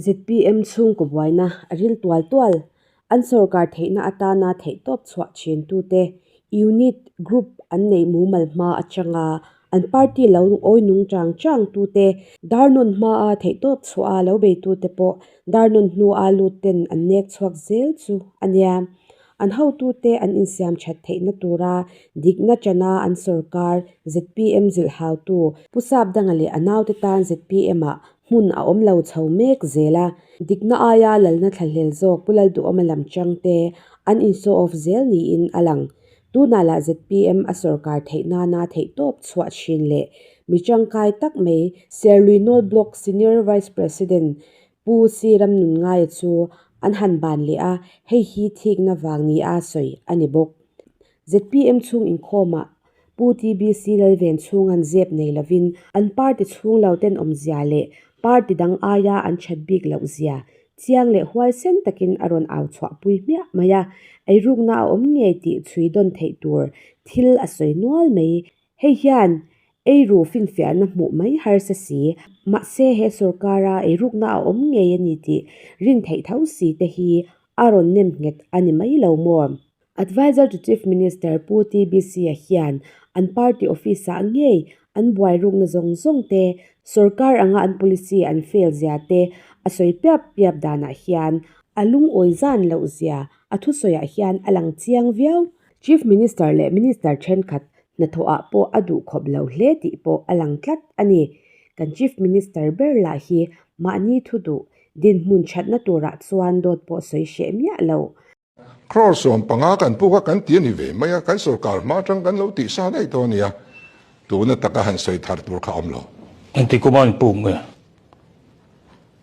Zpm chhungkaw buaina a ril tual tual. An sorkar theihna atana theihtawp chhuah thiantute unit, group an neih mumal hma atanga an party lo awi nung chang chang tute, dar nawn hmaa theihtawp chhuaha lo beitute pawh dar nawn hnua lutte'n an nek chhuak zel chu a nia. An hotute an insiam that theihna tura dikna tana an sorkar, zpm zilhautu, Pu Sap Dang leh a naute tan zpm-ah hmun a awm lo chho mek zel a, dikna aia lalna thlahlel zawk pu Lalduhawma lam changte an in show off zel niin a lang. Tunah lah zpm a sawrkar theih nana theihtawp chhuah thin leh mi tangkai tak mai Serlui Nawl Block Senior Vice President Pu Sri Ram Nunngaia chu an han ban leh a, hei hi thikna vang nia sawi a ni bawk. Zpm chhung inkhawmah Pu TBC Lalven chhunga an zep nei lovin an party chhung lo ten awmzia leh party dang aia an that bik loh zia chiang leh huaisen takin a rawn au chhuah pui hmiah mai a, eirukna a awm ngei tih chhui dawn theih tur thil a sawi nual mai. Hei hian eiru finfiahna hmuh mai harsa si, mahse he sorkara eirukna a awm ngei a ni tih rin theih tho si te hi a rawn nem nghet a ni mai lo maw? Advisor to Chief Minister Pu TBC-a hian an party office-ah ngei an buairukna zawng zawng te, sorkar anga an policy an fail zia te a sawi piap piap danah hian a lungawi zan loh zia a thusawiah hian a lang chiang viau. Chief Minister leh Minister thenkhat hnathawhah pawh a duh khawp lo hle tih pawh a lang tlat a ni. Kan Chief Minister ber lah hi mahni thu duh, dinhmun thatna turah chuan dawt pawh sawi hreh miah loh. Crore sawm panga kan puk a kan ti a ni ve mai a, kan sorkar hma atang kan lo tih sa daih tawh a nia, tuna taka han sawi thar tur kha awm lo. Engti kuma an puk nge?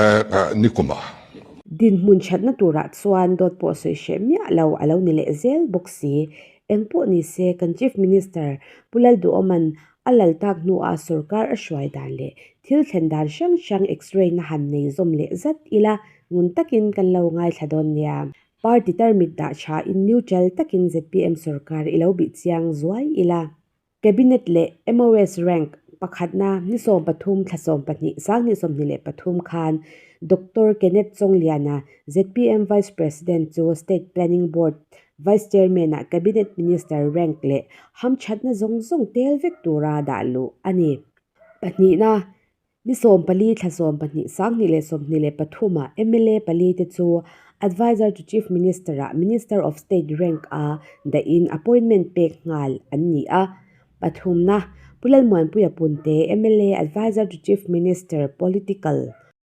Ehh ni kuma. Dinhmun thatna turah chuan dawt pawh sawi hreh miah lo a lo ni leh zel bawk si. Engpawh ni se kan Chief Minister Pu Lalduhawman A lal tak hnuah sorkar a hruai dan leh thil thlen dan hrang hrang x-ray na han nei zawm leh zat ila ngun takin kan lo ngaithla dawn nia. Party tarmit dah tha in neutral takin zpm sorkar i lo bih chiang zuai ila Cabinet leh MOS rank pakhatna ni sawm pathum thla sawm pahnih sang ni sawmhnih leh pathum khan Doctor Kenneth Chawnglia-na zpm Vice President chu State Planning Board Vice Chairman ah Cabinet Minister rank leh hamthatna zawng zawng tel vek tura dah luh a ni. Pahnihna, Ni sawm pali, thla sawm pahnih, sanghnih leh sawmhnih leh pathum ah mla pali te chu Advisor to Chief Minister ah Minister of State rank a daih in appointment pek nghal an ni a. Pathumna, Pu Lalmuanpuia Punte, mla, Advisor to Chief Minister, Political,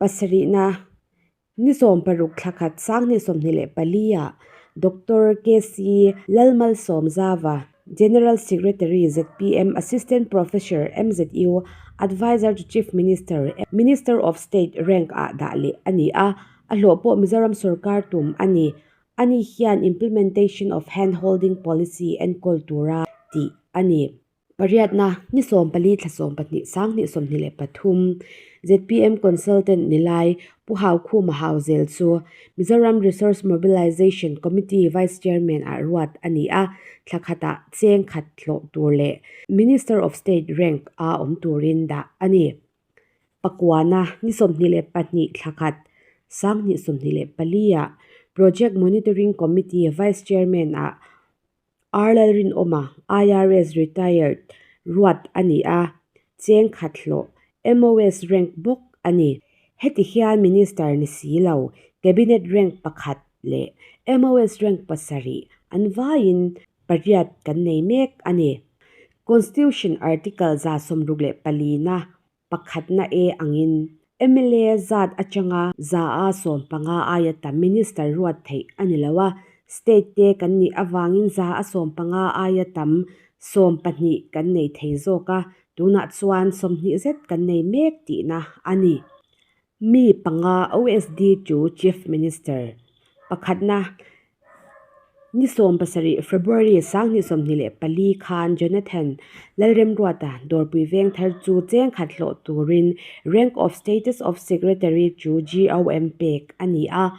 Pasarihna, Ni sawm paruk thla khat Sanghnih sawmhnih leh pali-ah Doctor KC Lalmalsawm Zava, General Secretary, ZPM, Assistant Professor, MZU, Advisor to Chief Minister, Minister of State, rank-ah dah leh a ni a, a hlawh pawh Mizoram sorkar tum a ni. Ani hian Implementation of Hand-holding Policy enkawl tura tih a ni. Pariatna, Ni sawmpali thla sawm pahnih sang hnih sawmhnih leh pathum ZPM consultant ni lai Pu Haukhuma Hauzel chu Mizoram Resource Mobilisation Committee Vice Chairman ah ruat a ni a, thla khatah cheng khat hlawh tur leh Minister of State rank a awm turin dah a ni. Pakuana, Ni sawmhnih leh pahnih thla khat sang hnih sawmhnih leh pali ah Project Monitoring Committee Vice Chairman ah Ar Lalrinawma, IRS retired, ruat a ni a, cheng khat hlawh, MOS rank bawk a ni. Heti hian Minister ni si lo, Cabinet rank pakhat leh MOS rank pasarih an vaiin pariat kan nei mek a ni. Constitution Article za sawmruk leh palina pakhatna e angin mla zat atanga za a sawm panga aia ta minister ruat theih a ni lo a, state te kan nih avangin za a sawm panga aia tam sawm pahnih kan nei thei zawk a, tunah chuan sawmhnih zet kan nei mek tihna a ni. Mi panga OSD chu Chief Minister pakhatna ni sawm pasarih, February, Sanghnih sawmhnih leh pali khan Jonathan Lalremruata dawrpui veng thar chu cheng khat hlawh turin Rank of Status of Secretary chu GOM pek a ni a.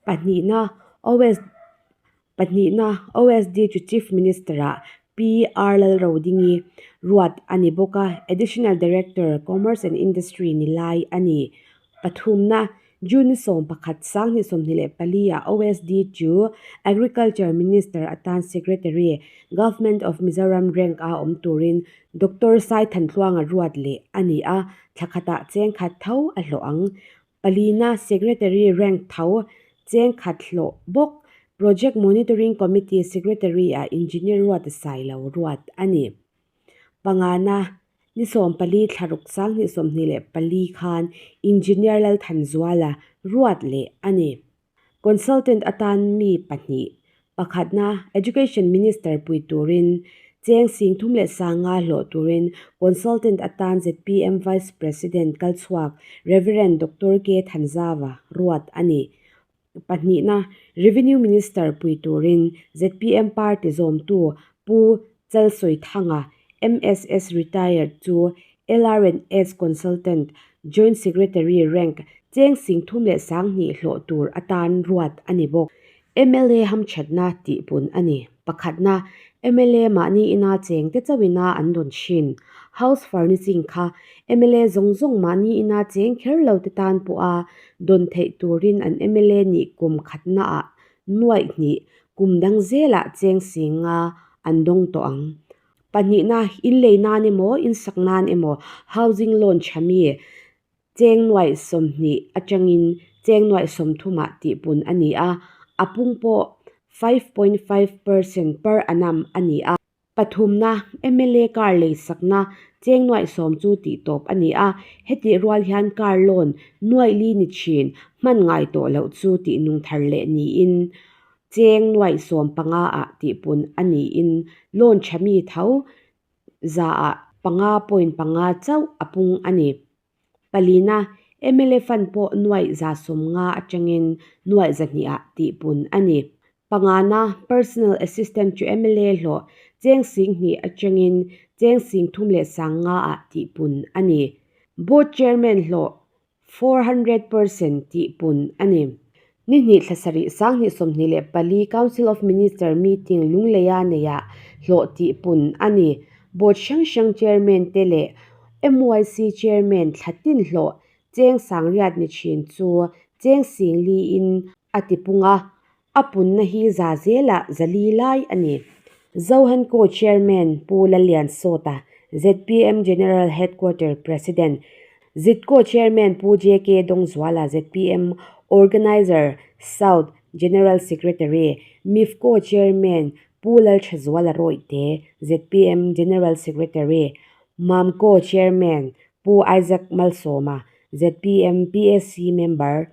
Pahnihna OSD Pahnihna, OSDHU Chief Minister a PR Lalrodingi ruat a ni bawk a, Additional Director Commerce and Industry ni lai a ni. Pathumna, June sawm pakhat sang hnih sawmhnih leh pali ah OSDHU Agriculture Minister atan Secretary, Government of Mizoram rank ah awm turin Doctor Sai Thantluanga ruat leh a ni a, thlakhat ah chengkhat tho a hlawh ang. Palina Secretary Rank tho cheng khat hlawh bawk Project Monitoring Committee Secretary a Engineer Ruatasai lo ruat a ni. Pangana Ni sawm pali thlaruk sang hnih sawm hnih leh pali khan Engineer Lalthanzuala ruat leh a ni. Consultant atan mi pahnih, pakhatna Education Minister pui turin cheng sing thum leh sanga hlawh turin Consultant atan zpm Vice President kal chhuak Rev. Doctor K Thanzava ruat a ni. Pahnihna Revenue Minister pui turin zpm party zawmtu Pu Chalsawithanga, MSS Retired chu LRNS Consultant, Joint Secretary rank, cheng sing thum leh sang hnih hlawh tur atan ruat a ni bawk. Mla hamthatna tihpun a ni. Pakhatna, mla mahni ina cheng te chauh ina an rawn thin. House furnishing kha mla zawng zawng mahni ina cheng kher lo te tan pawha dawn theih turin an mla nih kum khatnaah Nuaihnih kum dang zelah cheng singa an dawng tawh ang. Pahnihna, in lei nan emaw, in sak nan emaw, housing loan tha mi cheng nuai sawmhnih atangin cheng nuai sawmthu mah tihpun a ni a, a pung pawh five point five percent per annum a ni a. Pathumna, mla car lei sakna cheng nuaih sawm chu tih tawp a ni a, hetih rual hian car loan nuaih li ni thin hman ngai tawh loh chu tih nung thar leh niin cheng nuaih sawm panga ah tihpun a niin loan tha mi tho za ah panga point panga chauh a pung a ni. Palina, mla fund pawh nuaih za sawm nga atangin nuaih za hnih ah tih bun a ni. Pangana, personal assistant chu mla hlawh cheng sing hnih atangin cheng sing thum leh sang nga ah tih bun a ni. Board chairman hlawh four hundred person tih bun a ni. Ni hnih thla sarih sang hnih sawmhnih leh pali Council of Minister meeting Lungleia neia hlawh tihpun a ni. Board hrang hrang chairman te leh MYC chairman thla tinhlawh Cheng Sangriat ni thin chu Cheng Sing Li in a tipung a, a punna hi za zela zali lai a ni. Zohanko chairman Pu Laliansawta, ZPM General Headquarter President, Zidco Chairman Pu JK Dongzuala, ZPM Organiser South General Secretary, Mifco Chairman Pu Lalthazuala Rawihte, ZPM General Secretary, Mamco Chairman Pu Isaac Malsawma, ZPM PAC Member,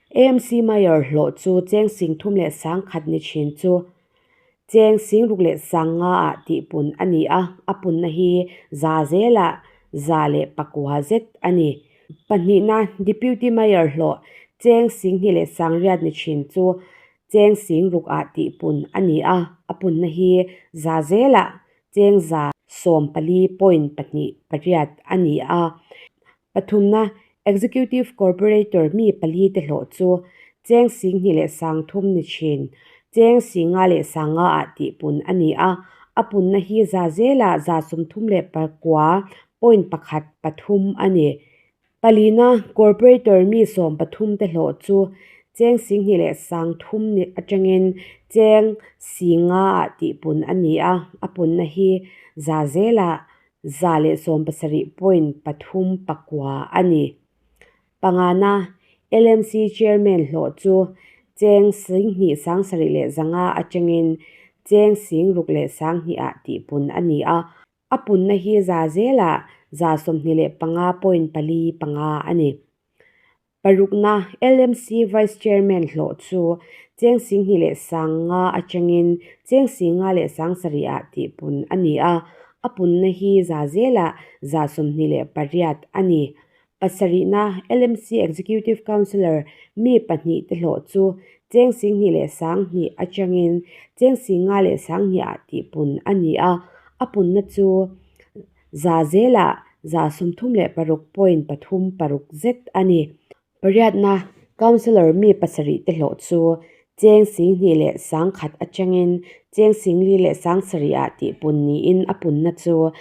AMC Mayor hlawh chu cheng sing thum leh sang khat ni thin chu cheng sing ruk leh sang nga ah tih pun a ni a, a punna hi za zela za leh pakua zet a ni. Pahnihna Deputy Mayor hlawh cheng sing hnih leh sang riat ni thin chu cheng sing ruk ah tih pun a ni a, a punna hi za zela cheng za sawm pali point pahnih pariat a ni a. Pathumna, Executive Corporator mi pali te hlawh chu Cheng Sing Hnih leh Sang Thum ni thin, Cheng Singa leh Sanga ah tih pun a ni a. A punna hi za zela za sum thum leh pakua, point pakhat, pathum a ni. Palina, Corporator mi sawm pathum te hlawh chu Cheng Sing Hnih leh Sang Thum ni atangin Cheng Singa ah tih pun a ni a. A punna hi za zela za leh sawm pasarih point pathum pakua a ni. Pangana, LMC Chairman hlawh chu Cheng Singhnih Sangsarih leh Zanga atangin Cheng Singruk leh Sanghnih ah tihpun a ni a, a punna hi za zela za sawmhnih leh panga point pali panga a ni. Parukna, LMC Vice Chairman hlawh chu Cheng Singhi leh Sanga atangin Cheng Singa leh Sang Sarih-a tih pun a ni a, a punna hi za zela za sawmhnih leh pariat a ni. Pasarihna, LMC Executive Councillor mi pahnih te hlawh chu Cheng Singhi leh Sang hnih atangin Cheng Singa leh Sang hnih-a tih pun a ni a, a punna chu Za zela, za sumthum leh paruk point pathum paruk zet a ni. Pariatna Councillor mi pasarih te hlawh chu Cheng Sing Hnih leh Sang Khat atangin Cheng Sing Li leh Sang Sarih ah tihpun niin a punna chu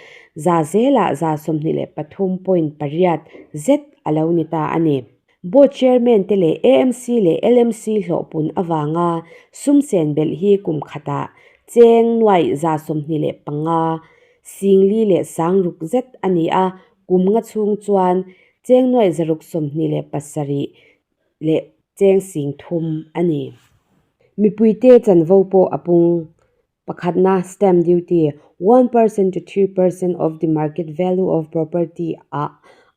za zela, za sawmhnih leh pathum point pariat zet a lo ni ta a ni. Board Chairman te leh amc leh LMC hlawhpun avanga sumsen belh hi kum khatah cheng nuai za sawmhnih leh panga singli leh sang ruk zet a ni a, kum nga chhung chuan cheng nuai zaruk sawmhnih leh pasarih leh cheng sing thum a ni. Mipuite chanvo pawh a pung Pakhatna, Stamp duty, one per cent to three per cent of the market value of property ah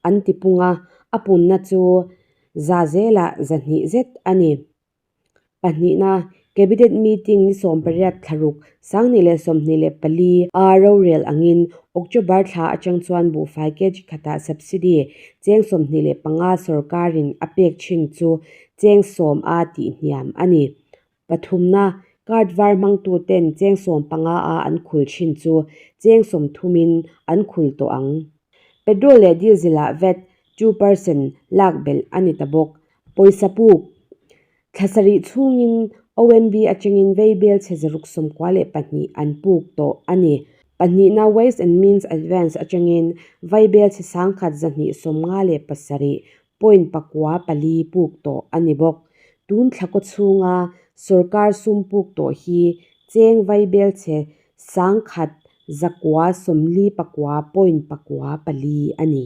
an ti pung a, a punna chu za zela za hnih zet a ni. Pahnihna, Cabinet meeting ni sawm pariat thlaruk sanghnih leh sawmhnih leh pali a rorel angin October thla atang chuan buhfai KG khatah subsidy cheng sawmhnih leh panga sorkarin a pek thin chu cheng sawm a tih hniam a ni. Pathumna, card var hmang tu ten cheng sawm panga a an khul thin chu cheng sawm thum in an khul tawh ang. Petrol leh diesel ah vat two percent lak belh a ni ta bawk. Pawisa puk, thla sarih chhung in OMV atang in vei bel chhe zaruk sawm kua leh pahnih an puk tawh a ni. Pahnihna, ways and means advance atang in vai bel chhe sang khat zahnih sawm nga leh pasarih point pakua pali puk tawh a ni bawk. Tun thla kaw chhunga sorkar sum puk tawh hi cheng vaibel chhe sangkhat zakua sawmli pakua point pakua pali a ni.